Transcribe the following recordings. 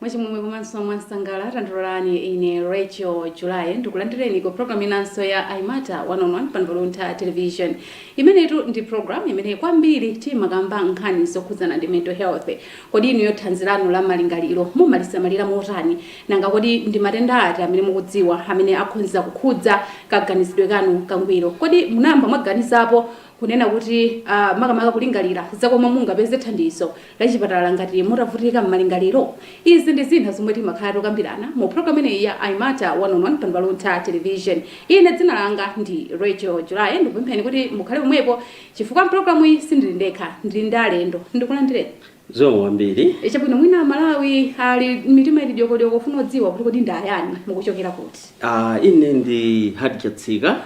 Mwachimwemwe komanso mwansangala tandilolani ine Rachel July ndikulandireni ku program inanso ya I Matter 1 on 1 pano pa Luntha Television. Imeneyitu ndi program imene kwambiri timakamba nkhani zokhudzana ndi mental health. Kodi inuyo thanzi lanu la malingaliro mumalisamalira motani? Nanga kodi ndi matenda ati amene mukudziwa amene akhonza kukhudza kaganizidwe kanu kangwiro? Kodi munayamba mwaganizapo kunena kuti makamaka kulingalira za komwe mungapeze thandizo la chipatala ngati mutavutika m'malingaliro. Izi ndi zina zomwe timakhala tokambirana mu program imeneyi ya I Matter One on One pano pa Luntha Television. Ine dzina langa ndi Rachel July. Ndikupempheni kuti mukhale pomwepo chifukwa m'programu iyi sindili ndekha, ndili ndi alendo. Ndikulandireni. Zikomo kwambiri. Chabwino, mwina Amalawi ali mitima ili dyokodyoko kufuna kudziwa kuti kodi ndi ayani, mukuchokera kuti? Ah, ine ndi Hard Chatsika.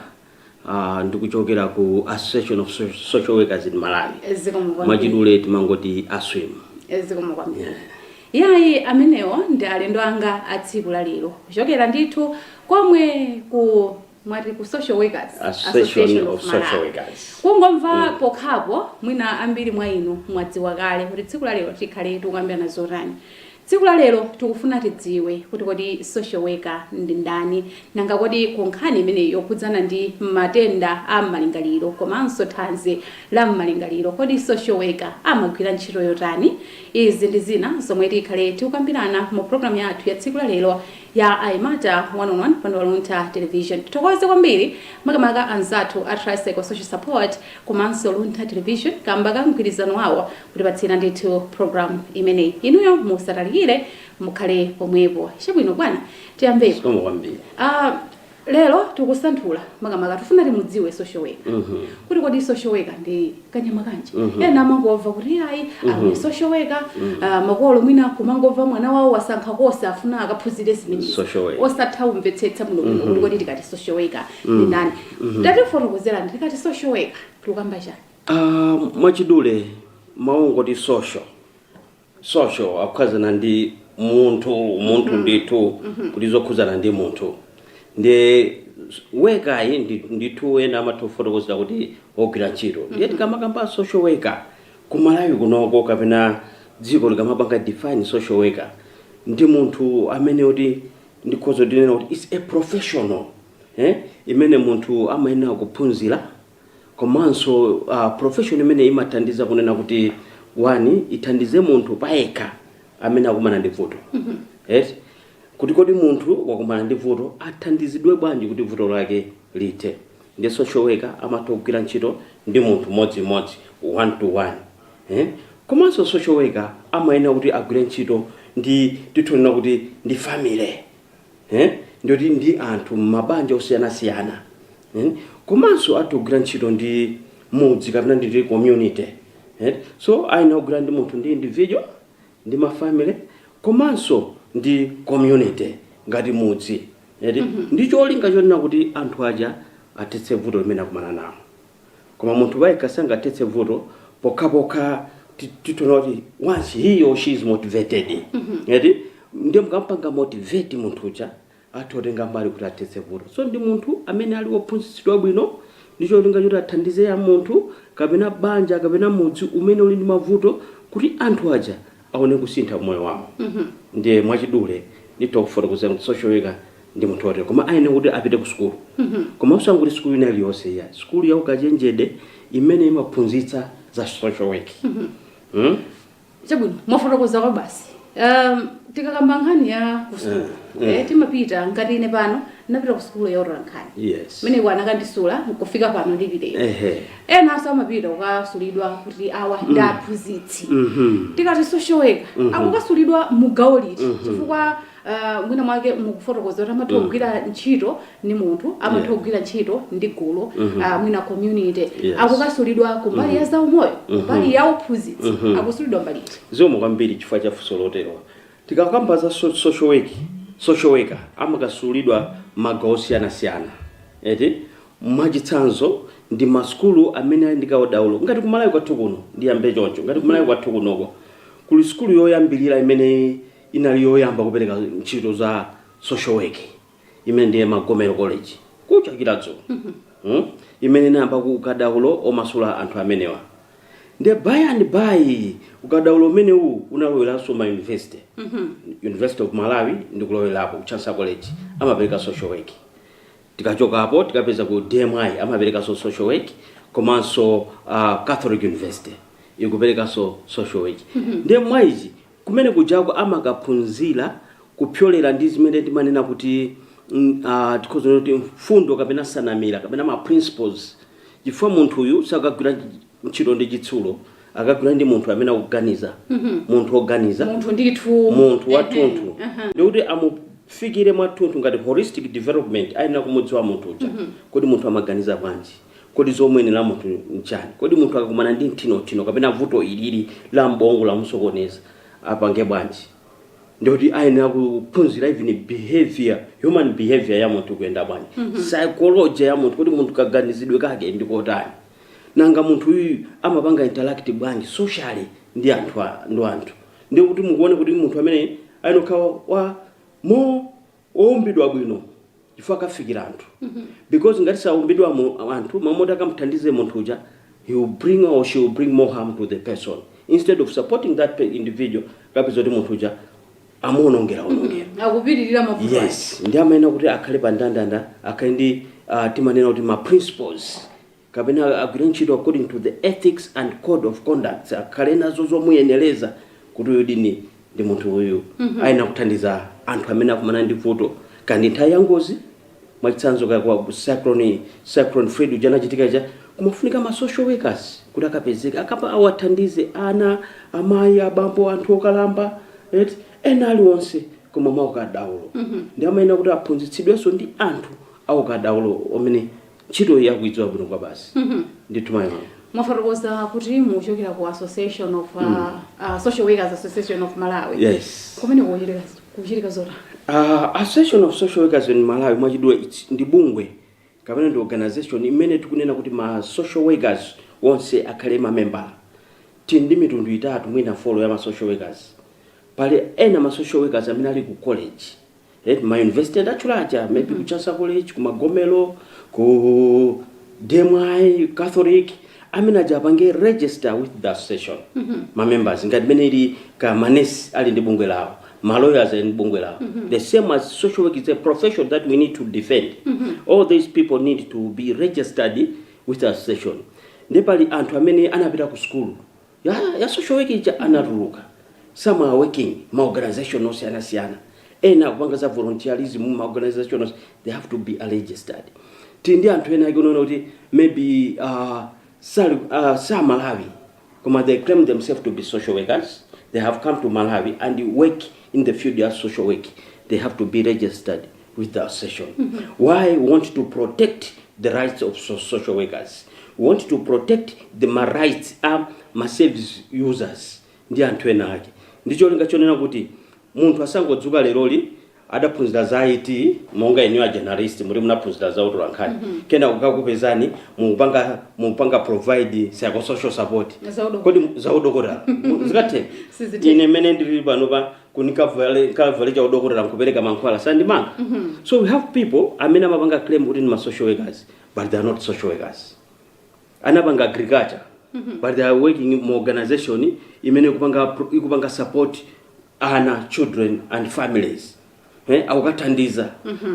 Uh, ndikuchokera ku Association of Social Workers in Malawi. Mwachidule timangoti ASWIM. Zikomo kwambiri. Yeah. yayi amenewo ndi alendo anga a tsiku la lero kuchokera ndithu komweku mwati ku social workers association of social workers kungomva mm. pokhapo mwina ambiri mwa inu mwadziwa kale kuti tsiku la lero tikhale tikukambirana zotani Tsiku la lero tikufuna tidziwe kuti kodi social worker ndi ndani? Nanga kodi ku nkhani imeneyi yokhudzana ndi matenda a m'malingaliro komanso thanzi la m'malingaliro, kodi social worker amagwira ntchito yotani? Izi ndi zina zomwe tikhale tikukambirana mu program yathu ya tsiku la lero ya I Matter One on One pano pa Luntha Television. Tithokoze kwambiri makamaka anzathu a Tricycle Social Support komanso Luntha Television kamba ka mgwirizano wawo kutipatsira ndithu program imeneyi inuyo musatalikire mukhale pomwepo chabwino bwana tiyambepo zikomo kwambiri Ah, lero tikusanthula makamaka tifuna timudziwe social worker Mhm. kuti kodi social worker ndi kanyama kanji Mhm. ena amangomva kuti ayi ali social worker ah, makolo mwina kumangomva mwana wawo wasankha kosi afuna akaphunzire zimenezi Social worker. osatha kumvetsetsa muno muno kuti kodi tikati social worker ndi ndani tatifotokozerani tikati social worker tikukamba chani Uh, mwachidule mawu ongoti social social akukhudzana ndi munthu munthu ndithu kuti zokhudzana ndi munthu ndiye worker-yi ndi- ndithu ena amatifotokozera kuti ogwira ntchito ndiye tikamakamba social worker ku malawi kunoko kapena dziko likamapanga define social worker ndi munthu amene kuti ndikhoza kunena kuti is a professional eh? imene munthu amayenera kuphunzira komanso uh, profession imene imathandiza kunena kuti wani ithandize munthu payekha amene akumana ndi vuto yes kuti kodi munthu wakumana ndi vuto athandizidwe bwanji kuti vuto lake lithe ndi social worker amatha kugwira ntchito ndi munthu modzimodzi one to one eh? komanso social worker amayenera kuti agwire ntchito ndi tikanena kuti ndi family eh? ndikuti ndi anthu m'mabanja osiyanasiyana Eti? Komanso atha kugwira ntchito ndi mudzi kapena ndi ndi community. Eti? So ayenera kugwira ndi munthu ndi individual, ndi ma family komanso ndi community ngati mudzi. Eti? Ndi cholinga chonena kuti anthu aja athetse vuto limene akumana nalo. Koma munthu payekha sangathetse vuto pokhapokha ti- titaona kuti once he or she is motivated. Eti? Ndiye mukamupanga motivate munthu uja atha kutenga mbali kuti athetse vuto. So ndi munthu amene ali wophunzitsidwa bwino ndi cholinga choti athandize ya munthu kapena banja kapena mudzi umene uli ndi mavuto kuti anthu aja aone kusintha moyo wawo. Ndiye mwachidule nditha kufotokoza kuti social worker ndi munthu wotere. Koma ayenera kuti apite ku sukulu. Koma osangoti sukulu ina iliyonse iyayi. Sukulu ya ukachenjede imene imaphunzitsa za social work. chabwino mwafotokozako basi um, tikakamba nkhani ya kusukulu mm, mm. Eh, timapita ngati ine pano napita kusukulu ya otola nkhani yes. kumeneko anakandisula nkufika pano ndipiteko enanso amapita kukasulidwa kuti awa mm. ndi aphunzitsi mm -hmm. tikati social worker mm -hmm. akukasulidwa m'gawo liti mm -hmm. chifukwa mwina mwake mukufotokoza kuti amatha kugwira ntchito ndi munthu amatha Yeah. kugwira ntchito ndi gulu ah, mwina community Yes. akukasulidwa kumbali ya zaumoyo kumbali ya uphunzitsi akusulidwa mbali iti zikomo kwambiri chifukwa cha funso lotero tikakamba za so- social work social worker amakasulidwa magawo osiyanasiyana eti mwachitsanzo ndi masukulu amene ali ndi ukadaulo ngati kumalawi kwathu kuno ndiyambe choncho ngati kumalawi kwathu kunoko kuli sukulu yoyambirira imene inali yoyamba kupereka ntchito za social work imene ndiye magomero college kuja ku chiradzulo mm? imene inayamba ukadaulo omasula anthu amenewa ndiye by and by ukadaulo umenewu unaloweranso ma university university of malawi ndikulowerapo ku chancellor college amapereka social work tikachoka apo tikapeza ku dmi amaperekanso social work komanso uh, catholic university ikuperekanso social work ndiye mwachi Kumene kujako amakaphunzira kupyolera ndi zimene timanena kuti mm, ah, tikhoza kunena kuti mfundo kapena nsanamira kapena ma principles chifukwa munthu uyu sakagwira ntch- ntchito ndi chitsulo akagwira ndi munthu amene akuganiza munthu woganiza munthu ndithu munthu Ehe, wathunthu aha. ndikuti amufikire mwathunthu ngati holistic development ayenera kumudziwa munthu uja kodi munthu amaganiza bwanji Kodi zomuyenera munthu nchani? Kodi munthu akakumana ndi mthinothino kapena vuto ilili la m'bongo lamusokoneza apange bwanji? Ndikuti ayenera kuphunzira even behavior, human behavior ya munthu ikuyenda bwanji. Psychology ya munthu, kodi munthu kaganizidwe kake ndi kotani? Nanga munthu uyuyu amapanga interact bwanji socially ndi anthu a, ndi anthu. Ndikuti mukuona kuti munthu ameneyi ayenera kukhala wa more. oumbidwa bwino chifukwa akafikira anthu because ngati saumbidwa anthu m'malo moti akamuthandize munthu uja he will bring or she will bring more harm to the person instead of supporting that pe- individual kapeza kuti munthu uja amuonongera onongera akupitiriza mavuto ake. yes ndi amayenera kuti akhale pa ndandanda akhale ndi uh, timanena kuti ma principles kapena agwire ntchito according to the ethics and code of conduct akhale nazo zomuyeneleza kuti uyudi ndi munthu uyu ayenera kuthandiza anthu amene akumana ndi vuto kaya ndi nthawi ya ngozi mwachitsanzo kaya kwa cyclone cyclone freddy uja anachitika ija kumafunika ma social workers kuti akapezeke akapa awathandize ana amayi abambo anthu okalamba eti ena aliwonse koma mwaukadaulo ndi amayenera kuti aphunzitsidwenso ndi anthu aukadaulo omene ntchitoyi akuidziwa bwino kwabasi ndithu mayi wanga mwafotokoza kuti mukuchokera ku association of uh, uh, social workers association of malawi yes kumene kuchitika kuchitika zotani Uh, Association of Social Workers in Malawi mwachidule it's- ndi bungwe kapena ndi organization imene tikunena kuti ma social workers onse akhale mamembala tili ndi mitundu itatu mwina folo ya ma social workers pali ena ma social workers amene ali ku college eti ma university ndatchula aja maybe ku chancellor college ku magomero ku dmi catholic amene aja apange register with the association ma members ngati mene ili ka manesi ali ndi bungwe lawo ma lawyers ali ndi bungwe lawo the same as social work is a profession that we need to defend all these people need to be registered with the association ndi pali anthu amene anapita ku sukulu ya ya social work ija anatuluka some are working ma organization osiyana siyana ena akupanga za volunteerism ma organization os- they have to be registered tili ndi anthu ena tikunena kuti maybe uh, sali uh, sa malawi koma they claim themselves to be social workers they have come to malawi and work in the field ya social work they have to be registered with the association mm -hmm. why we want to protect the rights of so social workers we want to protect the ma rights a ma service users ndi anthu ena ake ndi cholinga chonena kuti munthu asangodzuka leroli adaphunzira za it monga inu a journalist muti munaphunzira za utola nkhani mm -hmm. kena kukakupezani mupanga mupanga provide psychosocial support Za udokotala. kodi za udokotala zikathe Sizithe. ine mene ndiri pano pa kuti nkavale kavale cha udokotala nkupereka mankhwala sangandimange so we have people amene amapanga claim kuti ndi ma social workers but they are not social workers anapanga agriculture but they are working mu organization imene ikupanga pro- ikupanga support ana children and families eh, akukathandiza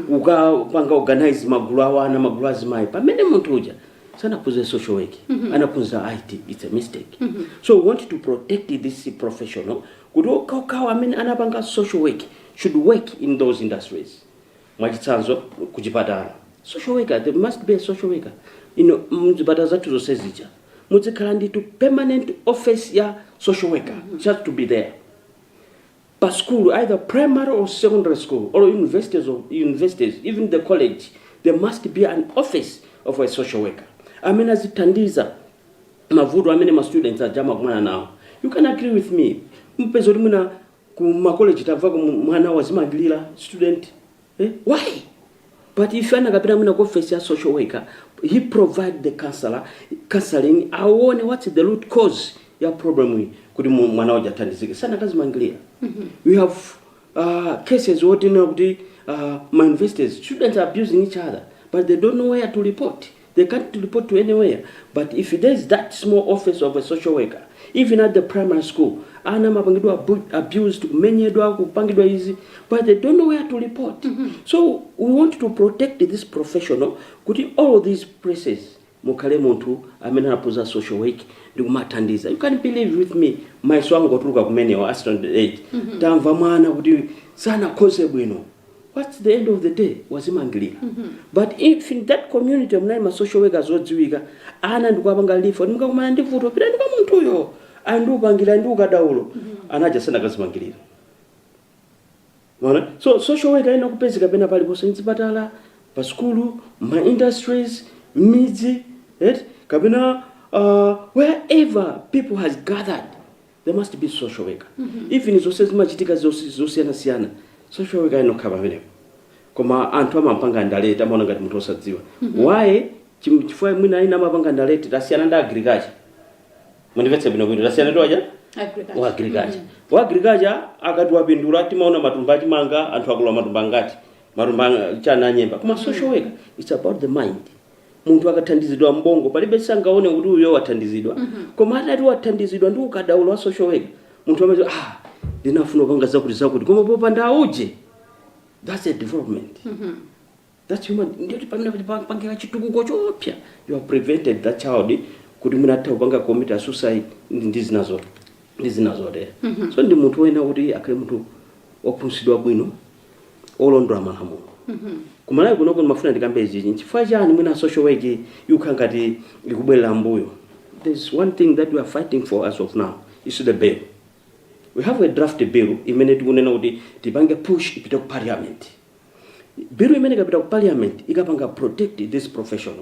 kukapanga organize magulu a ana magulu azimayi pamene munthu uja sanaphunzire social work anaphunzira IT it's a mistake so we want to protect this professional kuti okhaokhawo amene anapanga social work should work in those industries mwachitsanzo kuchipatala social worker there must be a social worker mzipatala zathu zonse zija muzikhala nditu permanent office ya social worker it has to be there pa school either primary or secondary school or universities even the college there must be an office of a social worker amene azithandiza mavuto amene ma students aja amakumana nawo you can agree with me mpeza kuti mwina ku ma college tamva kuti mu- mwana wazimangilira student eh? why but if anakapita mwina ku office ya social worker he provide the counselor counseling aone what's the root cause ya problem iyi kuti mu- mwana uja athandizike sakanazimangilira we have uh, cases wotinena kuti uh, ma universities students are abusing each other but they don't know where to report They can't report to anywhere but if there is that small office of a social worker even at the primary school ana amapangidwa abused kumenyedwa kupangidwa izi but they don't know where to report mm -hmm. so we want to protect this professional kuti all these places mukhale munthu amene anaphunzira social work ndi kumathandiza you can believe with me mayeso angotuluka kumenewa a standard 8 mm -hmm. tamva mwana kuti sanakhoze bwino whats the end of the day wazimangilira but if in that community munali ma social workers odziwika ana ndikuwapanga refer kuti mukakumana ndi vuto pitani kwa munthuyo ali ndi upangiri ali ndi ukadaulo anaja sakanazimangirira Mwaona? so social worker ayenera kupezeka pena paliponse mzipatala pa sukulu ma industries mmidzi right? kapena uh, wherever people has gathered there must be social worker mm -hmm. even zones zimachitika zosiyana siyana social worker ayenera kukhala pamenepo koma anthu amapanga underrate amaona ngati munthu osadziwa mm -hmm. why chifukwa mwina ena amapanga underrate tasiyana ndi agriculture mundimvetse bwino bwino tasiyana ndi aja a agriculture wa agriculture akati wapindula timaona matumba achimanga anthu akolola matumba angati matumba chani nyemba koma social worker it's about the mind munthu akathandizidwa mu ubongo palibe angaone kuti uyo wathandizidwa mm -hmm. koma atati wathandizidwa ndi ukadaulo wa social worker munthu amati ah ndinafuna kupanga zakuti zakuti koma popanda auje that's a development mm -hmm. that's human ndiyoti pamene pangira chitukuko choposa you have prevented that child kuti mwina atha kupanga commit a suicide ndi zinazotero mm -hmm. so ndi munthu woyenera kuti akhale munthu ophunzitsidwa bwino olondola malamulo ku Malawi kuno ndimafuna ndikambe izichi nchifukwa chani mwina social work ikukhala ngati ikubwerera mbuyo there's one thing that we are fighting for as of now is the bill we have a draft bill imene tikunena kuti tipange push ipite ku parliament bill imene ikapita ku parliament ikapanga protect this profession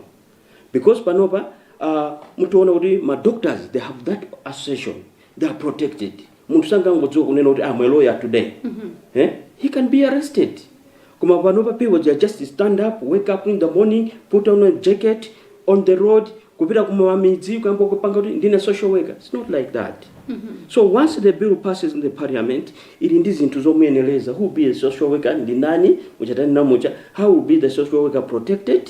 because panopa uh, mutaona kuti ma doctors they have that association they are protected munthu sangangodzuka kunena kuti I'm a lawyer today eh? he can be arrested koma panopa people they are just stand up wake up in the morning put on a jacket on the road kupita kumamidzi kuyamba kupanga kuti ndine social worker it's not like that so once the bill passes in the parliament ili ndi zinthu zomuyenereza who will be a social worker ndi nani muchatani namutcha how will be the social worker protected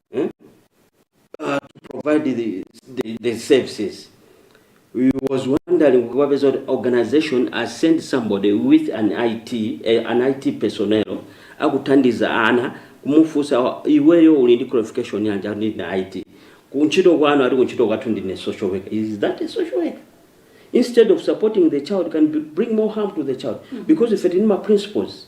eh, uh, to provide the, the, the services it's worrying kuwapeza kuti organization has sent somebody with an it eh, an it personnel akuthandiza ana kumufunsa iweyo uli ndi qualification yanji ati ndili ndi it kuntchito kwanu ati kuntchito kwathu ndine social worker is that a social worker instead of supporting the child can b- bring more harm to the child because ife tili ndi ma principles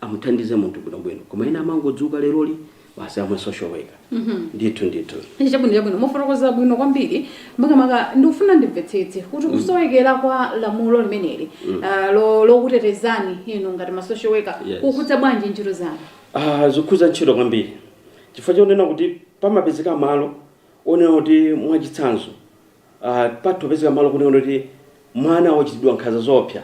amuthandize munthu bwinobwino koma ena amangodzuka leroli basi I'm a social worker ndithu ndithu chabwino chabwino mwafotokoza bwino kwambiri makamaka ndikufuna ndimvetsetse kuti kusowekera kwa lamulo limeneli ah, lo- lokutetezani inu ngati ma social worker Yes. kukukhudza bwanji ntchito zanu Ah, zikukhudza ntchito kwambiri chifukwa chonena kuti pamapezeka malo onena kuti mwachitsanzo uh, patha kupezeka malo kunena kuti mwana wachitidwa nkhanza zoopsa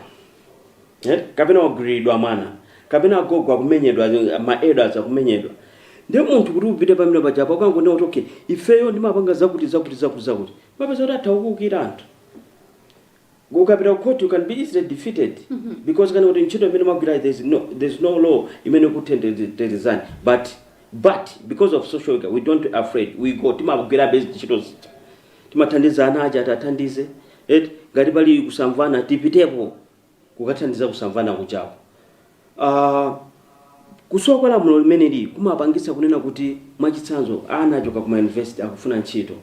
eh? kapena wagwiriridwa mwana kapena agogo akumenyedwa eh, ma elders akumenyedwa ndiye munthu kuti upite pamene pajapo ukangonena kuti okay ifeyo timapanga zakuti zakuti zakuti zakuti umapeza kuti atha kukuukira anthu Ukapita ku court you can be easily defeated because akanena kuti ntchito imene mwagwirayi there's no, there's no law imene ikukutetezani but but because of social worker we don't afraid we go timagwirabe ntchito zija timathandiza ana aja tiwathandize eti ngati pali kusamvana tipitepo kukathandiza kusamvana kujaku. Kusowa kwa lamulo limeneli kumapangitsa kunena kuti, mwachitsanzo, ana achoka ku mayunivesite akufuna ntchito,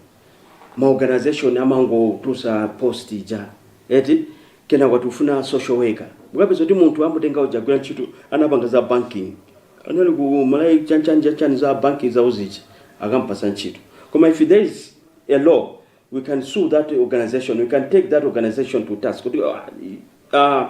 ma organization amangotulutsa post ija eti, kenako tikufuna social worker, mukapeza kuti munthu amutenga uja agwira ntchito, anapanga za banking, anali ku Malawi chanchani chanchani za banking zawo zija, akamupatsa ntchito. Koma if there is a law, we can sue that organization, we can take that organization to task kuti, ah,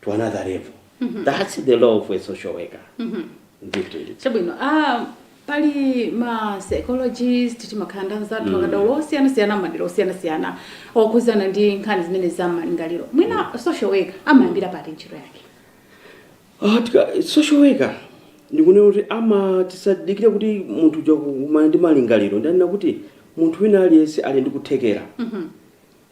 to another level mm -hmm. that's the role of a social worker mm -hmm. ndithu chabwino ah pali ma psychologist timakhala nda anzathu mm. akadaulo osiyanasiyana madera osiyanasiyana okhudzana ndi nkhani zimenezi za malingaliro mwina mm. social worker amayambira pati ntchito yake ah, tika, social worker ndikunena kuti ama tisadikire kuti munthu uja kumana ndi malingaliro ndanena kuti munthu wina aliyense ali ndi kuthekera mm -hmm.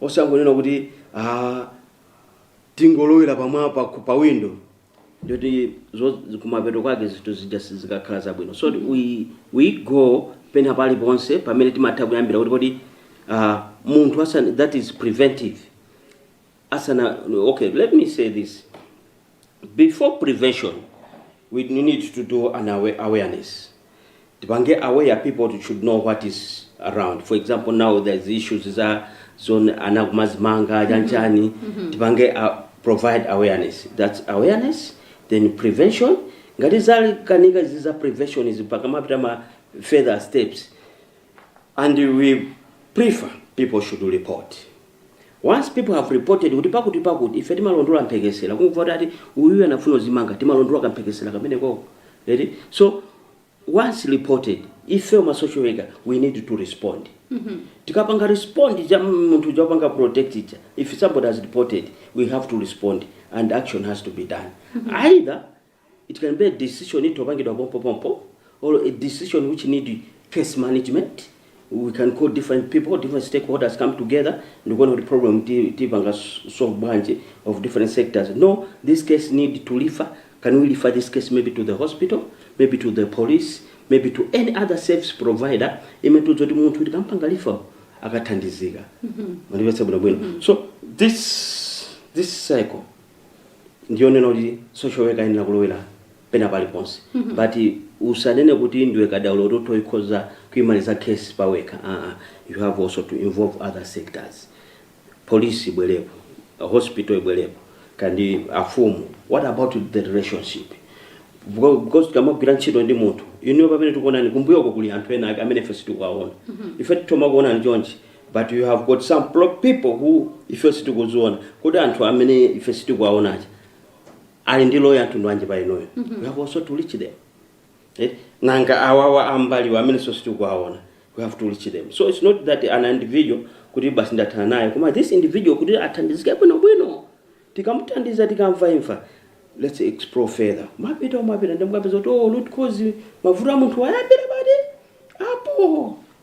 osangonena kuti ah, tingolowera pamwa pa, pa window nde kuti zo- kumapeto kwake zinthu zija sizikakhala zabwino so we, we go pena paliponse pamene timatha kuyambira kuti kodi ah, munthu asana, that is preventive asana okay let me say this Before prevention we need to do an aware awareness tipange aware people to should know what is around for example now there is issues za zone ana kumazimanga chanchani tipange uh, provide awareness that's awareness then prevention ngati zalikanika izi za prevention izi mpaka mapita ma further steps and we prefer people should report Once people have reported kuti pakuti pakuti ife timalondola mphekesera kungomva kuti ati uyuyu anafuna kudzimanga timalondola kamphekesera kamenekoko eti so once reported ife ma social worker we need to respond tikapanga respond munthu uja wapanga protect ija if somebody has reported we have to respond and action has to be done either It can be a decision itha kupangidwa pompopompo or a decision which need case management, we can call different people, different stakeholders come together ndikuona kuti problem ti- tipanga s- solve bwanji of different sectors. No, this case need to refer, can we refer this case maybe to the hospital, maybe to the police, maybe to any other service provider imene tidziwa kuti munthu tikampanga refer akathandizika. Mwandimvetsa bwinobwino. So this, this cycle ndiyonena kuti social worker ayenera kulowera pena paliponse but usanene kuti ndiwe kadaulo kuti utokhoza kuimaliza case pawekha aa you have also to involve other sectors police ibwerepo hospital ibwerepo kandi afumu what about the relationship Because- because tikamagwira ntchito ndi munthu inuyo pamene tikuonani kumbuyoko kuli anthu ena ake amene ife sitikuwaona ife tithoma kuonani chonchi but you have got some pro- people who ife sitikuziona kodi anthu amene ife sitikuwaona aja ali ndi role ya mtundu wanji pa inuyo we have also to reach them eh? nanga awawa ambaliwa amene ife sitikuwaona we have to reach them so it's not that an individual kuti basi ndathana naye koma this individual kuti athandizike bwinobwino tikamuthandiza tikamva imva let's explore further mwapita mwapita nde mukapeza kuti oh, root cause mavuto a munthuwa ayambira pati apo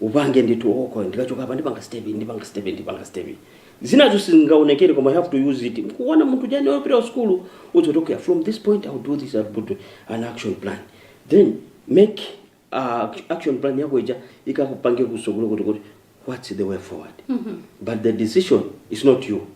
upange ndithu okay ndikachoka apa ndipanga step iyi, ndipanga step iyi, ndipanga step iyi. zinazo sizingaonekere koma you have to use it kumuona munthu ujayo opita kusukulu umuuza oti okay from this point i'll do this i'll do an action plan then mmene uh, action plan yako ija ikakupange kutsogolo kuti kuti what's the way forward but the decision is not you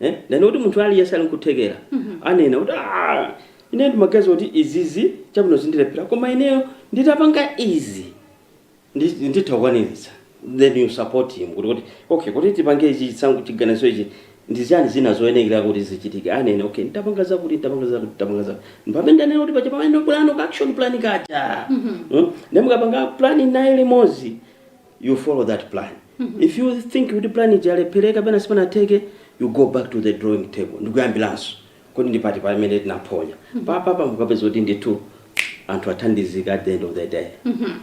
eh? ndiye kuti munthu aliyense ali nkuthekera anene kuti "Ah, ine ndimaganiza kuti izizi chabwino zindilephera koma ineyo nditapanga izi ndi- nditha kukwaniritsa then you support him kuti kuti okay kuti tipange ichi chisankho chiganizo ichi ndi zinthu ziti zoyenekera kuti zichitike anene okay nditapanga zakuti nditapanga zakuti nditapanga zakuti mpamene ndanena kuti paja pamene timapangano ka action plan kaja Mm? nde mukapanga plan naye limodzi you follow that plan if you think kuti plan ija yalephereka kapena sipanatheke you go back to the drawing table ndikuyambiranso kodi ndi pati pamene tinaphonya papapa mukapeza kuti ndithu anthu athandizika at the end of the day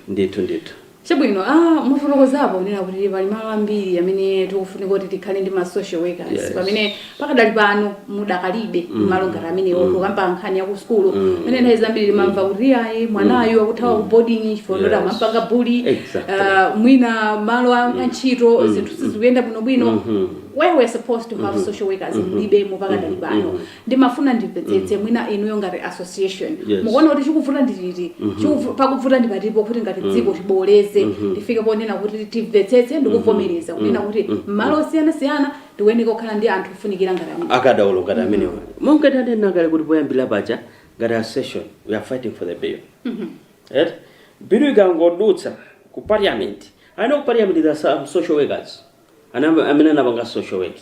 ndithu ndithu chabwino ah, mwafotokozapo kunena kuti pali malo ambiri amene tikufunika kuti tikhale ndi ma social workers Yes. pamene pakadali pano mudakalibe mm. malo ngati amenewo mm. kukamba nkhani ya kusukulu mm. mene mm. nthawi zambiri timamva mm. kuti ayi mwanayu mm. akuthawa ku boarding chifukwa yes. amampanga bully exactly. uh, mwina malo a mm. ntchito mm. zinthu sizikuyenda bwinobwino mm -hmm. where we're supposed to have mm -hmm. social workers mm -hmm. mulibemo pakadali mm-hmm. pano mm -hmm. ndimafuna ndimvetsetse mm -hmm. mwina inuyo ngati association yes. mukuona kuti chikuvuta ndi chiti mm -hmm. pakuvuta ndi patipo kuti ngati mm-hmm. dziko tibooleze mm -hmm. tifike ponena kuti timvetsetse ndikuvomereza mm-hmm. kunena kuti malo osiyanasiyana tikuyenera kukhala ndi anthu ofunikira ngati amene akadaulo ngati amenewa monga tanena kale kuti poyambira paja ngati association we are fighting for the bill right bill ikangodutsa ku parliament I know ku parliament there are some social workers ana amene anapanga social work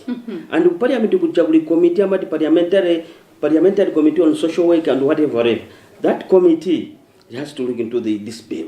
and ku parliament kuja kuli committee amati parliamentary parliamentary committee on social work and whatever whatever that committee has to look into the, this bill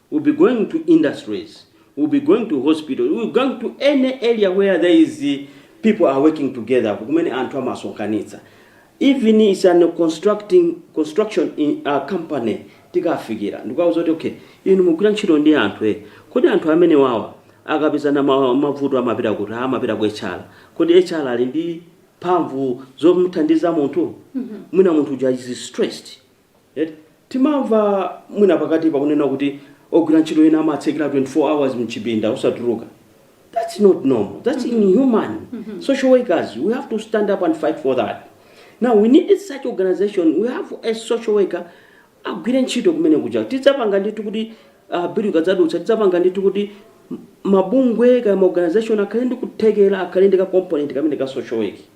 We'll be going to industries, we'll be going to hospitals, we'll be going to any area where there is people are working together, kumene anthu amasonkhana. Even it's an constructing construction in a company tikafikira ndikuwauza zoti okay inu mugwira ntchito ndi anthu eh kodi anthu amene wawa akapezana ma- mavuto amapita kuti amapita ku HR kodi HR ali ndi mphamvu zomuthandiza munthu mwina munthu uja is stressed Eti? Timamva mwina pakatipa kunena kuti ogwira ntchito ena amatsekera 24 hours mchipinda osatuluka. That's not normal. That's inhuman. Social workers, we have to stand up and fight for that. Now we need such organization. We have a social worker agwire ntchito kumene kuja. Tidzapanga ndithu kuti uh, bill ikadzadutsa tidzapanga ndithu kuti m- mabungwe kaya ma organization akhale ndi kuthekera akhale ndi ka component kamene ka social work.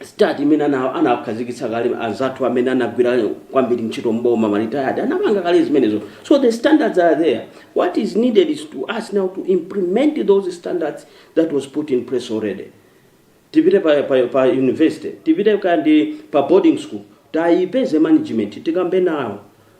Start imene ana anakhazikitsa kale anzathu amene anagwira kwambiri ntchito mboma ma retired anapanga kale zimenezo so the standards are there what is needed is to us now to implement those standards that was put in place already tipite pa, pa, pa university tipite kaya ndi pa boarding school tiyipeze management tikambe nawo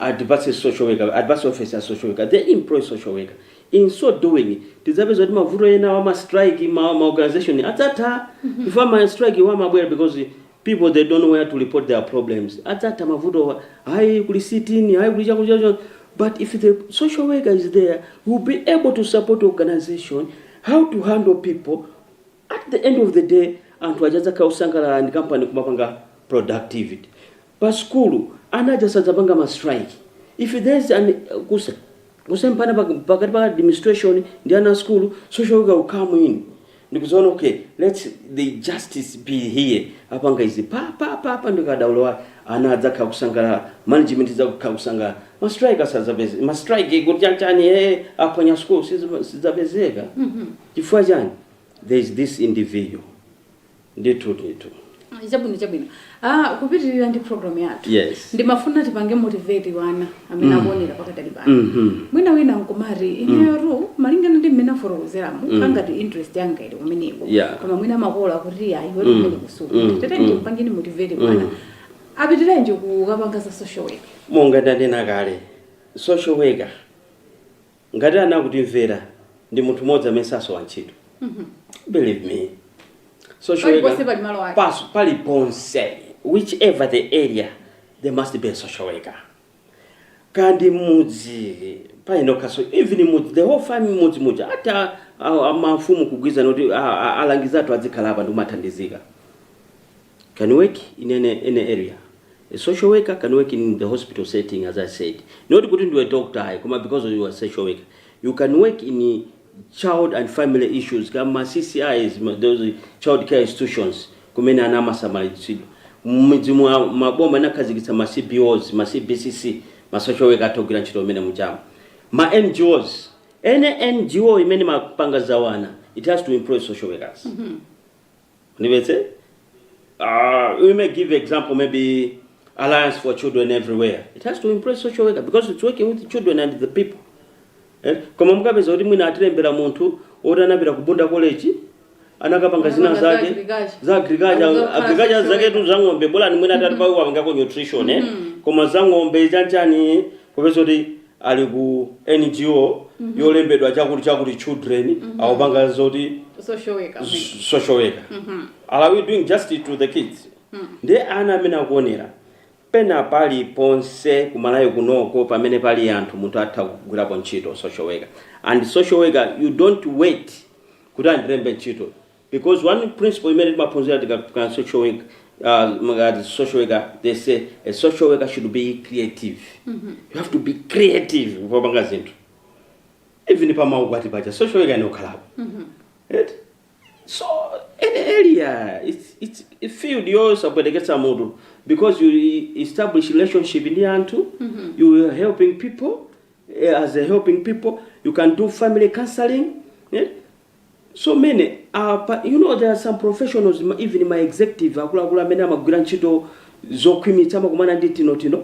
Atipatse social worker, atipatse office ya social worker, they employ social worker. In so doing, tidzapeza kuti mavuto enawa ma strike, ma, ma organization adzatha. Chifukwa ma strikewa amabwera because people they don't know where to report their problems. Adzatha mavutowa, hayi kuli sit-in, hayi kuli chakuti chakuti. But if the social worker is there, will be able to support organization, how to handle people, at the end of the day anthu aja adzakhala osangalala ndi kampani kumapanga productivity pa sukulu ana aja sadzapanga ma strike if there is an kuse, kusemphana pak- pakati pa administration ndi ana a sukulu social worker will come in ndikuzaona okay let's the justice be here apanga izi pa pa pa pa ndikadaulo wake ana adzakhala kusangalala management idzakhala kusangalala ma strike sadzapezeka ma strike kuti chanchani eh aphwanya sukulu sizidzapezeka chifukwa chani there is this individual ndithu ndithu chabwino chabwino ah, kupitirira ndi program yathu Yes. ndimafuna tipange motivate wana amene akuonera pakadali pano Mhm. mwina wina nkumati ineyo malingana ndi mmene afotokozeramu kungati interest yanga ili kumeneko Yeah. koma mwina makolo kuti ayi wati kumene kusuku Mm. tete Mm. tapangeni motivate wana apitirenji kukapanga za social work monga ndanena kale social worker Ngati ana akutimvera ndi munthu mmodzi amene sasowa ntchito believe me social worker Paliponse pali malo ake. pas- paliponse which ever the area there must be a social worker kaya ndi mudzi paokhanso even mudzi the whole family mudzi muja atha ah, ah, mafumu kugwirizana kuti ah, ah, alangizi athu adzikhala apa ndikumathandizika can work in any any area a social worker can work in the hospital setting as i said not kuti ndiwe doctor ayi koma because you are social worker you can work in child and family issues kama ccis ma- those child care institutions kumene ana amasamalidwa mmidzimu maboma anakhazikitsa ma cbos ma cbcc ma social worker atha ogwira ntchito mmenemuja ma ngos any ngo imene imapanga za wana it has to employ social workers Mundivetse? Uh, we may give example maybe Alliance for Children everywhere. It has to employ social worker because it's working with children and the people. Eh? Koma mukapeza kuti mwina atalemba munthu woti anapita ku Bunda College anakapanga zina Anapanga za zake agriculture. za agriculture Anakapanga agriculture social zaketu za ng'ombe bola mwina atati apangako nutrition eh koma za ng'ombe chanchani popeza kuti ali ku NGO yolembedwa chakuti chakuti children akupanga zoti social worker amene. s- social worker are we doing justice to the kids ndiye ana amene akuonera pena paliponse ku Malawi kunoko pamene pali anthu munthu atha kugwirapo ntchito social worker and social worker you don't wait kuti andilembe ntchito Because one principle imene timaphunzira tikakhala ndi social work uh, ngati social worker they say a social worker should be creative you have to be creative popanga zinthu even pamaukwati pacha social worker imakhalapo Eti? so any area it's, it's a field yosapweteketsa mutu because you establish relationship ndi anthu you are helping people eh, as a helping people you can do family counseling eh? so many apa you know there are some professionals ma- even ma executive akuluakulu amene amagwira ntchito zokhwimitsitsa amakumana ndi tinotino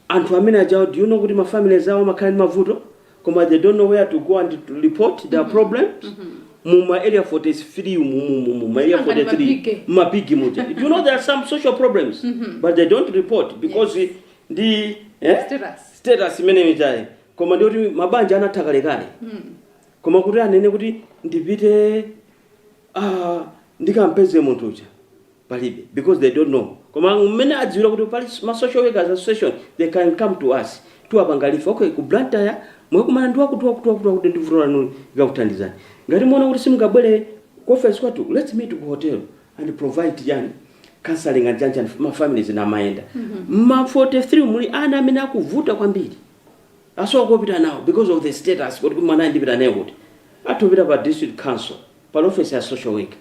anthu amene ajawa do you know kuti mafamilies awo amakhala ndi mavuto koma they don't know where to go and to report their problems mu ma area 43 mu- mu- mu- mu ma area Sangani 43 mabige. mabigi muja do you know there are some social problems but they don't report because ndi eh? Status. status imeneyi koma ndi oti mabanja anatha kalekale Koma kuti anene kuti ndipite aah ndikampeze munthu uja palibe because they don't know koma mmene adziwira kuti pali ma social workers association they can come to us tiwapanga refer okay ku Blantyre mwakumana ndi wakuti wakuti wakuti wakuti ndi vuto lanu akakuthandizani ngati muona kuti simungabwere ku office kwathu let's meet ku hotel and provide chani counseling and chanichani ma families ndi kumayenda ma 43 muli ana amene akuvuta kwambiri asowa kopita nawo because of the status kuti mwanayu ndipita naye kuti? atha kupita pa district council pali ofesi ya social worker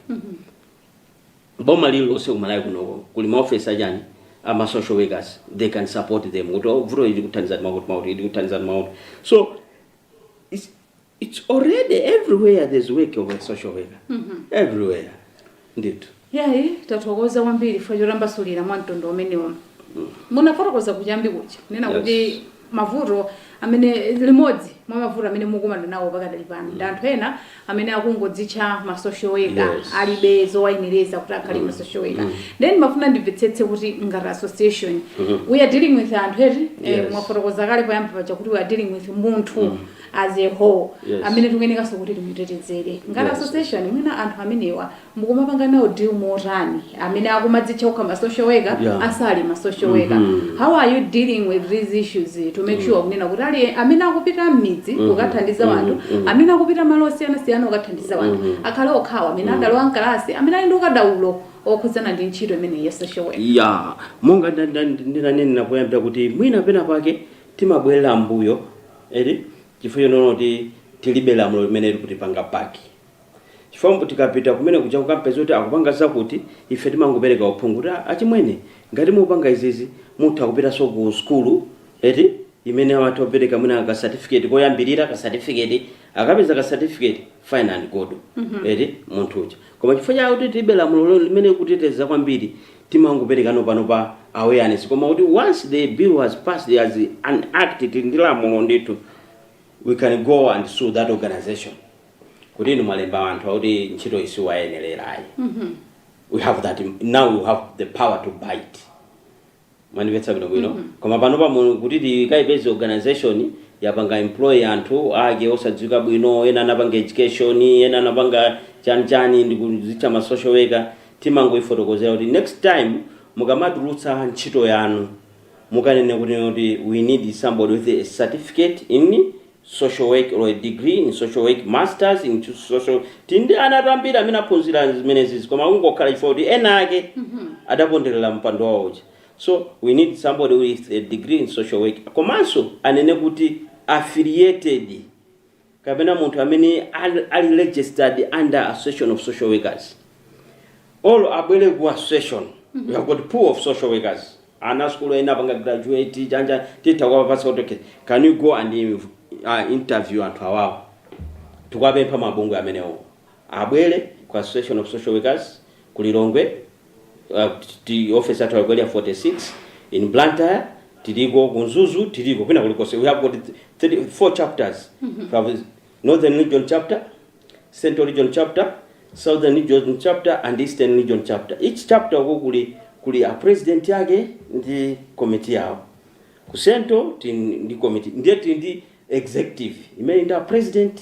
boma lililonse ku Malawi kunoko kuli maofesi achani ama social workers they can support them kuti "Oh, vuto ili akuthandizani mwakuti mwakuti ili akuthandizani mwakuti so it's- It's already everywhere there's work of a social worker. Mm -hmm. Everywhere. Ndithu. Yayi tathokoza kwambiri chifukwa chotambasulira mwa mtundu umenewo. Mm. Munafotokoza kuchiyambi kuja. Nena yes. kuti mavuto amene limodzi mwa mavuto amene mukumana nawo pakadali pano mm. ndi anthu ena amene akungodzitcha ma social worker yes. alibe zowayenereza kuti akhale mm. ma social worker mm. then ndimafuna ndimvetsetse kuti ngati association mm -hmm. we are dealing with anthu eti eh, yes. eh, mwafotokoza kale poyamba paja kuti we are dealing with munthu mm. as a whole Yes. amene tikuyenekanso kuti timutetezere ngati Yes. association mwina anthu amenewa mukumapanga nawo deal motani amene akumadzitcha kukhala ma social worker Yeah. asali ma social worker Mhm. how are you dealing with these issues to make sure kunena kuti ayi amene akupita mmidzi kukathandiza wanthu amene akupita malo osiyanasiyana kukathandiza wanthu akhale okhawo amene adalowa mkalasi amene ali ndi ukadaulo okhudzana ndi ntchito imeneyi ya social worker ya monga nda- nda- ndinanena poyambira kuti mwina pena pake timabwerera mbuyo eti chifukwa choona kuti tilibe lamulo limene likutipanga back chifukwa mbu tikapita kumene kuja kukampeza kuti akupanga zakuti ife timangopereka uphungu kuti "Ah, achimwene ngati mupanga izizi mutha kupitanso ku skulu eti imene amatha kupereka mwina ka certificate koyambirira ka certificate akapeza ka certificate fine and good eti munthu uja koma chifukwa chakuti tilibe lamulo lo- limene likuteteza kwambiri timangopereka pano pa awareness koma kuti once the bill has passed as an act tili ndi lamulo ndithu we can go and sue that organization kuti inu mwalemba anthu oti ntchito iyi siwayenerera ayi we have that now we have the power to bite mwandimvetsa bwino bwino koma pano pa kuti tikayipeze organization yapanga employ anthu ake osadziwika bwino ena anapanga education ena anapanga chani chani ndikuzitcha ma social worker timangoifotokozera kuti next time mukamatulutsa ntchito yanu mukanene kuti kuti we need somebody with a certificate in social work or a degree in social work masters in social tili ndi anatu ambiri amene aphunzira zimenezizi koma kungokhala chifukwa chakuti ena ake adaponderera mpando wawo uja so we need somebody with a degree in social work komanso anene kuti affiliated kapena munthu amene al, ali registered under association of social workers or abwere ku association we have got pool of social workers ana a school ena apanga graduate chonchija titha kuwapatsa kuti okay can you go and uh, interview anthu awawo tikuwapempha mabungwe amenewo abwere ku association of social workers ku lilongwe uh, ma office athu a ku Area 46 in blantyre tiliko ku Mzuzu tiliko kwina kulikonse we have got three, four chapters we have northern region chapter central region chapter southern region chapter and eastern region chapter each chapter uko kuli kuli a president yake ndi committee yawo ku central tili ndi committee ndiye tili ndi executive imene ili ndi a president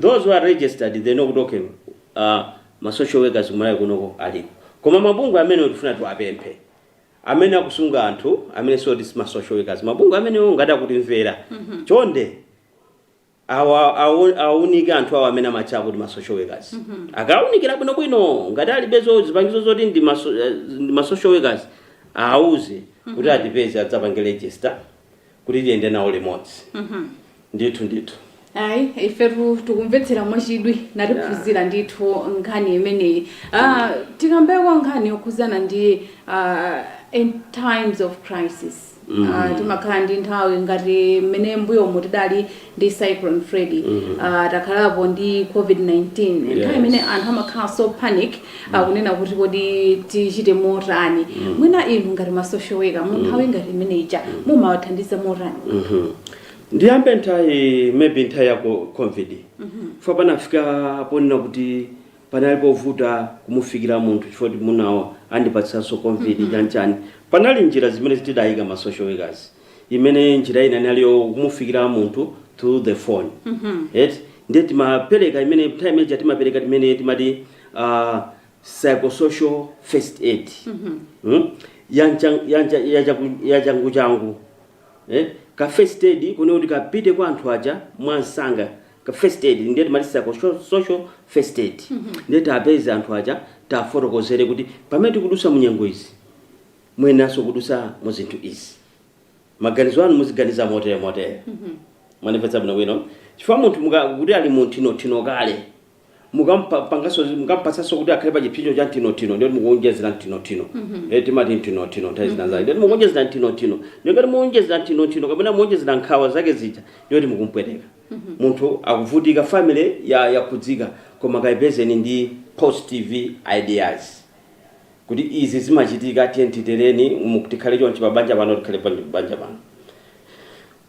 Those who are registered they know kuti okay uh, ma social workers kumalawi kunoko aliko koma mabungwe amenewo tifuna tiwapemphe amene akusunga anthu amene zoti si ma social workers mabungwe amenewo ngati akutimvera chonde awa- awu- awunike anthu awo amene amatcha kuti ma social workers akawunikira bwinobwino ngati alibe zo- zipangizo zoti ndi ma so- eh, ndi ma social workers awuze kuti atipeze adzapange register kuti tiyende nawo limodzi ndithu ndithu ayi ifetu tikumvetsera mwachidwi natiphunzira ndithu nkhani imeneyi Ah, tikambeko nkhani yokhuzana ndi ah, in times of crisis Ah, timakhala ndi nthawi ngati mmene mbuyomo tidali ndi cyclone Freddy uh, takhalapo ndi covid-19 nthawi imene Yes. anthu amakhala so panic akunena kuti kodi tichite motani mwina inu ngati ma social worker mu nthawi ngati imene ija mumawathandiza motani Mhm. ndiyambe nthawi maybe nthawi ya co- covid chifukwa panafika ponena kuti panali povuta kumufikira munthu chifukwa kuti munthuwo andipatsanso covid chanchani panali njira zimene tidayika ma social workers imene njira ina inali yokumufikira munthu through the phone eti ndiye timapereka imene nthawi imene timapereka timene timati uh, psychosocial first aid mm? yancha- yancha- yachaku- yachanguchangu eh? ka first aid kuja kuti kapite kwa anthu aja mwansanga ka first aid ndiye timati psychosocial first aid ndiye tiwapeze anthu aja tiwafotokozere kuti pamene tikudutsa munyengo izi muyeneranso kudutsa mu zinthu izi maganizo anu muziganiza motere motere muwapatsa bwino bwino chifukwa munthu muka- kuti ali mu nthinothino kale mukampangaso mukampatsanso kuti akhale pa chipsinjo cha nthinothino ndiyoti mukuonjezera nthinothino Eh, timati nthinothino nthawi zina zake ndiyoti mukuonjezera nthinothino ndiyoti muonjezera nthinothino kapena muonjezera nkhawa zake zija ndiyoti mukumpweteka munthu akuvutika family ya- yakhudzidwa koma kayipezeni ndi positive ideas kuti izi zimachitika tiyeni titereni mu- tikhale chonchi pa banja pano tikhale pa banja pano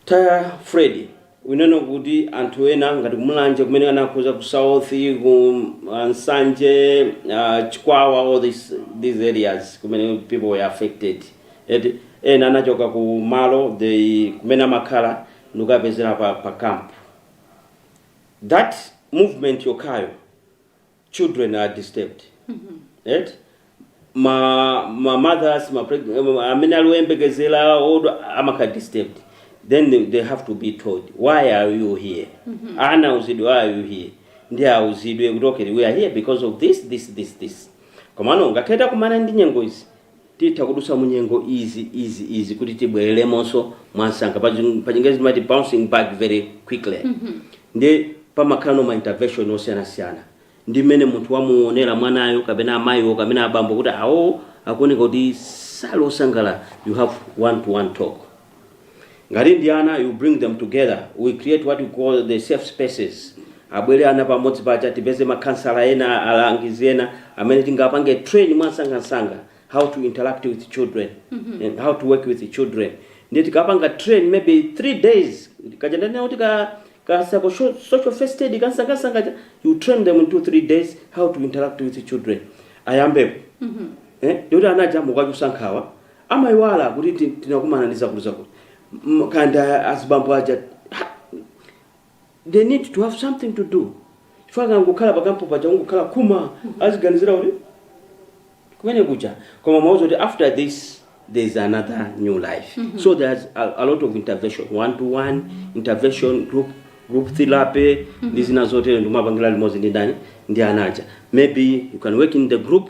za Freddy tinene kuti anthu ena ngati kumulanje kumene anakhudza ku south ku uh, Nsanje uh, Chikwawa all this, these areas kumene people were affected eti ena anachoka ku malo they kumene amakhala ndikukapezeka pa, pa camp that movement yokhayo children are disturbed right ma ma mothers ma preg- em, amene ali oyembekezera odwala amakhala disturbed then they, they have to be told why are you here ana auzidwe why are you here ndiye auzidwe kuti okay we are here because of this this this this komano ngakhale takumana ndi nyengo izi Titha kudutsa mu nyengo easy, easy, easy kuti tibwereremonso mwansanga. Pa chi- pa chingezi timati bouncing back very quickly. Ndiye pamakhalano ma intervention osiyanasiyana. Ndi mmene munthu wamuonera mwanayo kapena amayiwo kapena abambo kuti awowo akuoneka kuti sali osangalala you have one to one talk. ngati ndi ana you bring them together we create what you call the safe spaces abwere ana pamodzi paja tipeze makhansala ena alangizi ena amene tingapange train mwansangansanga how to interact with children and how to work with children ndiye tikapanga train maybe three days kaja ndanena kuti ka ka psycho sho- social first aid kansangansanga kaja, you train them in two three days how to interact with children ayambepo eh, ndiyoti ana aja mukuwachotsa nkhawa Amaiwala kuti tinakumana ndi zakutizakuti kaya ndi azibambo aja they need to have something to do chifukwa akangokhala pakampu paja kungokhala kuma aziganizira kuti kumene kuja kumauza kuti after this there is another new life mm -hmm. so there's a, a lot of intervention one to one intervention group group therapy mm -hmm. ndi zina zotero ndikumapangira limodzi ndi ndani ndi anaja maybe you can work in the group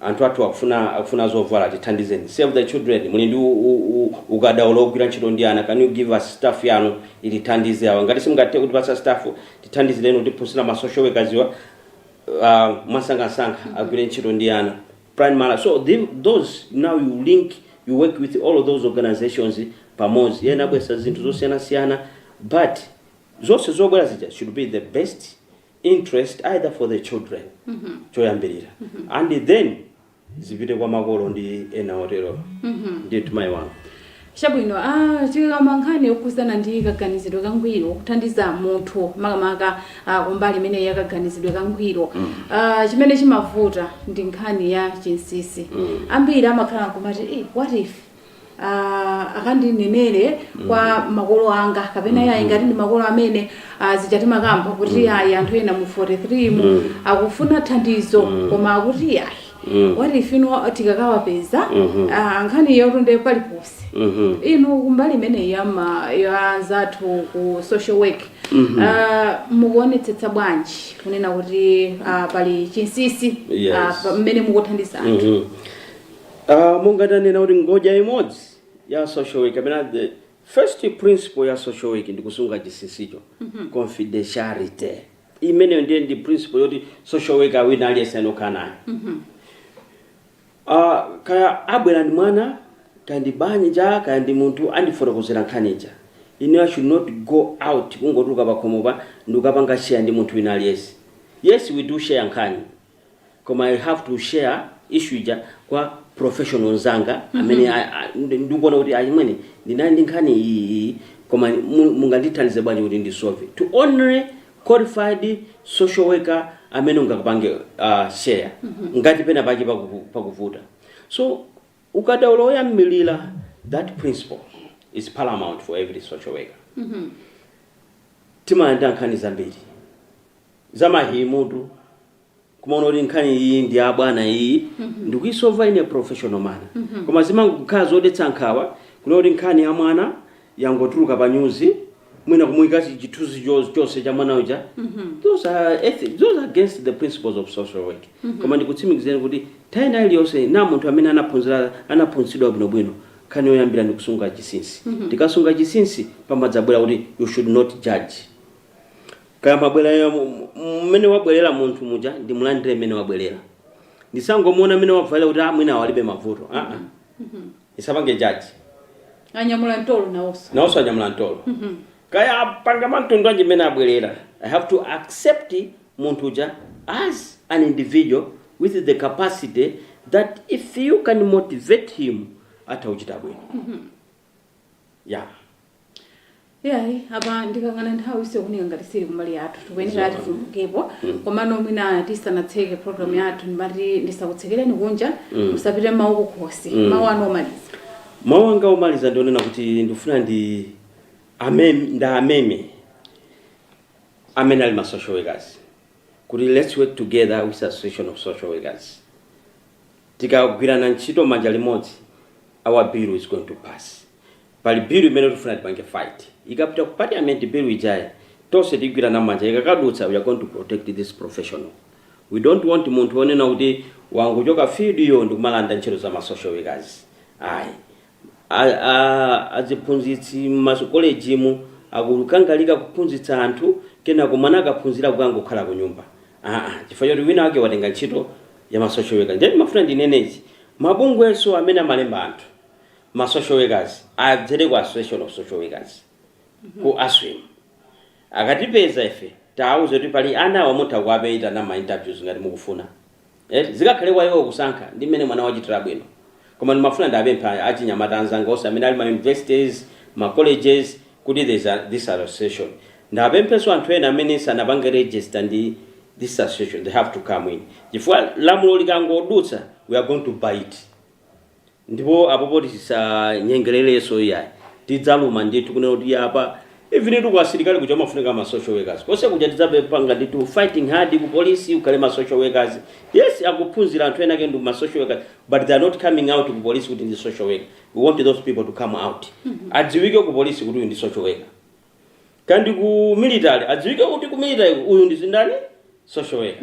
Anthu athu akufuna akufuna zovala tithandizeni save the children muli ndi ukadaulo ogwira ntchito ndi ana can you give us staff yanu ilithandize awa ngati simungathe kutipatsa staff tithandizireni kutifunsirako ma social workers wa uh, mwansangansanga agwire ntchito ndi ana primary so the, those now you link you work with all of those organizations pamodzi ena abweretsa zinthu zosiyanasiyana but zonse zobwera zija should be the best interest either for the children mm -hmm. choyambirira mm -hmm. and then zipite kwa makolo ndi ena oterowo mm -hmm. ndithu mayi wanga chabwino ah, tikakamba nkhani yokhuzana ndi kaganizidwe kangwiro kuthandiza munthu makamaka ah, kumbali imene ya kaganizidwe kangwiro mm. ah, chimene chimavuta ndi nkhani ya chinsisi mm. ambiri amakhala kumati eh, what if ah, akandinenere kwa makolo anga kapena yayi ngati ndi makolo amene ah, zija timakamba kuti yayi anthu ena mu 43 mu akufuna thandizo koma akuti yayi what if ino tikakawapeza ah, nkhani yatunda paliponse inu kumbali imeneyi ya ma- ya anzathu ku social work ah, mukuonetsetsa bwanji kunena kuti ah, pali chinsisi Yes. ah, pa- mmene mukuthandiza anthu Mhm. Uh, monga tanena kuti ngodya imodzi ya social work kapena the first principle ya social work ndi kusunga chinsinsicho confidentiality imeneyo ndiye ndi principle yoti social worker wina aliyense amakhala nayo Ah, kaya abwera ndi mwana kaya ndi banja kaya ndi munthu andifotokozera nkhani ija ine i should not go out kungotuluka pakhomopa ndikukapanga share ndi munthu wina aliyense yes we do share nkhani koma i have to share issue ija kwa professional nzanga amene a- a- ndi- ndikuona kuti achimwene ndinali ndi nkhani iyi iyi koma mu- mungandithandize bwanji kuti ndisolve to only qualified social worker amene ungakapange uh, share ngati pena pake pakuvu- pakuvuta so ukadaulo woyambirira that principle is paramount for every social worker timalandira nkhani zambiri za mayi mutu kumaona kuti nkhani iyi ndi ya bwana iyi ndikuyisova in a professional manner koma zimangokhala zodetsa nkhawa kuona kuti nkhani ya mwana yangotuluka pa nyuzi mwina kumuyika chi- chithunzi cho- chonse cha mwana uja those are ethi- those are against the principles of social work koma ndikutsimikizeni kuti nthawi ina iliyonse na munthu amene anaphunzira anaphunzitsidwa bwinobwino nkhani yoyambira ndi kusunga chinsinsi tikasunga chinsinsi pamadzabwera kuti you should not judge kaya mwabwerera mu- mu- mmene wabwerera munthu muja ndimulandire mmene wabwerera ndisangomuona mmene wavalira kuti "Ah, mwina walibe mavuto Ah, ah. ndisapange jaji anyamula mtolo nawonso nawonso anyamula mtolo kaya apanga mwamtundu anji mmene abwerera i have to accept munthu uja as an individual with the capacity that if you can motivate him atha kuchita bwino ya iyayi apa ndikayang'ana nthawi ikuoneka ngati siili kumbali yathu tikuyenera Zoona. tifumukepo Mm. komano mwina tisanatseke program yathu ndimati ndisakutsekereni kunja Mm. musapite mawu kukhosi Mm. mawu anu omaliza mawu anga omaliza ndionena kuti ndikufuna ndiwameme ndiwameme amene ali ma social workers kuti let's work together with association of social workers Tikagwirana ntchito manja limodzi our bill is going to pass. Pali bill imene tifuna tipange fight. Ikapita ku parliament bill ijayi tonse tigwirana manja ikakadutsa we are going to protect this professional. We don't want munthu onena kuti wangochoka field iyo ndikumalanda ntchito za ma social workers ayi. A a aziphunzitsi mmakolejimu akukangalika kuphunzitsa anthu kenako mwana akaphunzira kukangokhala kunyumba aa chifukwa choti wina wake watenga ntchito ya ma social worker ndiye ndimafuna ndinene ichi mabungwenso amene amalemba anthu ma social workers adzere ku association of social workers ku aswim akatipeza ife tiauze kuti pali ana awa mutha kuwaitana mma interviews ngati mukufuna. eti zikakhale kwa iwo kusankha ndi mmene mwana wachitira bwino koma ndimafuna ndiapemphe achinyamata anzanga onse amene ali mma universities mma colleges kuti there's a, this association ndiapempheso anthu ena amene sanapange register ndi this association they have to come in chifukwa lamulo likangodutsa we are going to bite Ndipo apa poti tisanyengererenso iyayi tidzaluma ndithu kunena kuti apa even tu ku asilikali kuja umafunika ma social workers konse kuja tidzapanga ndithu fighting hard ku polisi ukhale ma social workers yes akuphunzira anthu ena ake ndi ma social workers but they are not coming out ku polisi kuti ndi social worker we want those people to come out adziwike ku polisi kuti uyu ndi social worker kaya ndi ku military adziwike kuti ku military uyu ndi ndani social worker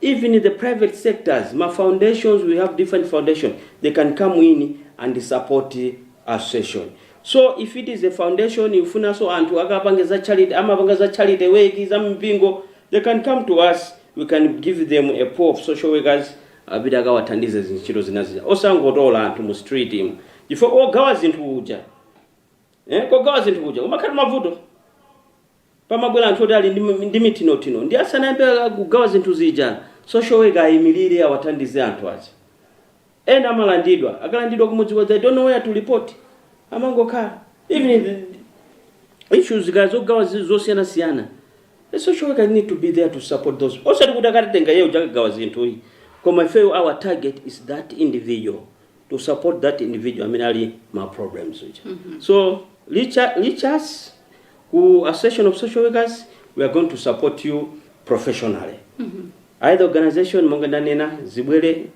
Even the private sectors, ma foundations, we have different foundation, they can come in and support association. So if it is a foundation ikufunanso kuti anthu akapange za charity, amapanga za charity work, za mipingo, they can come to us, we can give them a pool of social workers, apite akawathandize zintchito zina zija. Osangotola anthu mu street mu. Chifukwa ogawa zinthu uja, eh, kogawa zinthu uja, kumakhalatu mavuto. pamabwera anthu oti ali ndi ndi mithinothino ndiye asanayambe kugawa zinthu zija social worker ayimilire awathandize anthu aja. Ena amalandidwa, akalandidwa kumudzi kwawo they don't know where to report. Amangokhala. Even the issues kaya zogawa zi- zosiyanasiyana. The social worker need to be there to support those. Osati kuti akatenga iyeyo uja akagawa zinthu ayi. Koma ifeyo our target is that individual. to support that individual amene ali ma problems uja mm -hmm. so reach, reach us ku association of social workers we are going to support you professionally mm -hmm. either organization monga ndanena zibwere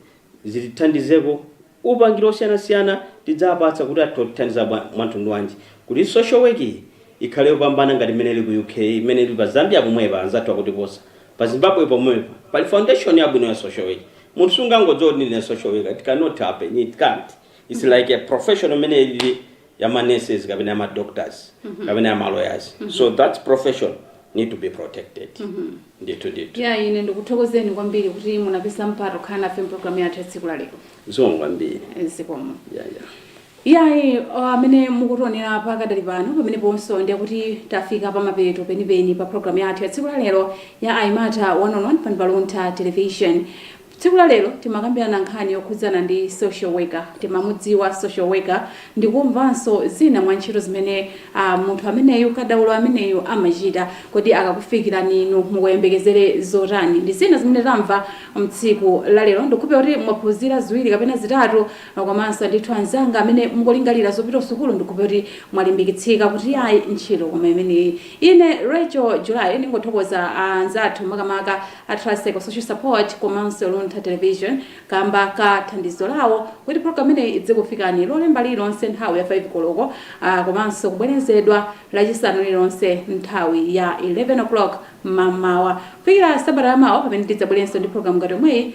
zitithandizeko upangiro osiyanasiyana tidzapatsa kuti atithandiza mwamtundu wanji kuti social work iyi ikhale yopambana ngati imene ili ku uk imene ili pa zambia pomwepa anzathu akutiposa Pa Zimbabwe pomwepa, pali foundation yabwino ya social work. Munthu sungangodzuka kuti ndine social worker, it cannot happen, it can't. It's like a professional imene ilili ya ma nurses kapena ya ma doctors kapena ya ma lawyers. So that profession need to be protected. Ndithu ndithu. ya ine ndikuthokozeni kwambiri kuti munapeza mpata kukhala nafe mprogram yathu ya tsiku la lero Zikomo kwambiri. zikomo Yeah, yeah. Iyayi, amene mukutionera pakadali pano, pameneponso, ndiye kuti tafika pamapeto penipeni pa programu yathu ya tsiku lalero ya Aymata One on One pano pa Luntha Television. Tsiku lalero timakambirana nkhani yokhudzana ndi social worker. Timamudziwa social worker ndikumvanso zina mwa ntchito zimene munthu ameneyu, kadaulo ameneyu amachita. Kodi akakufikirani inu mukuyembekezera zotani? Ndi zina zimene tamva mtsiku lalero. Ndikukhulupirira kuti mwaphunzira ziwiri kapena zitatu Komanso ndithu anzanga amene mukulingalira zopita kusukulu ndikukhulupirira kuti mwalimbikitsika kuti yayi ntchito koma imeneyi. Ine Rachel July ndingothokoza anzathu makamaka a Trust Psychosocial Support komanso Luntha Television kamba ka thandizo lawo kuti program imeneyi idzikufikani lolemba lililonse nthawi ya 5 koloko komanso kubwerezedwa lachisanu lililonse nthawi ya 11:00 mamawa kufikira sabata yamawa pamene tidzabwerenso ndi program ngati yomweyi.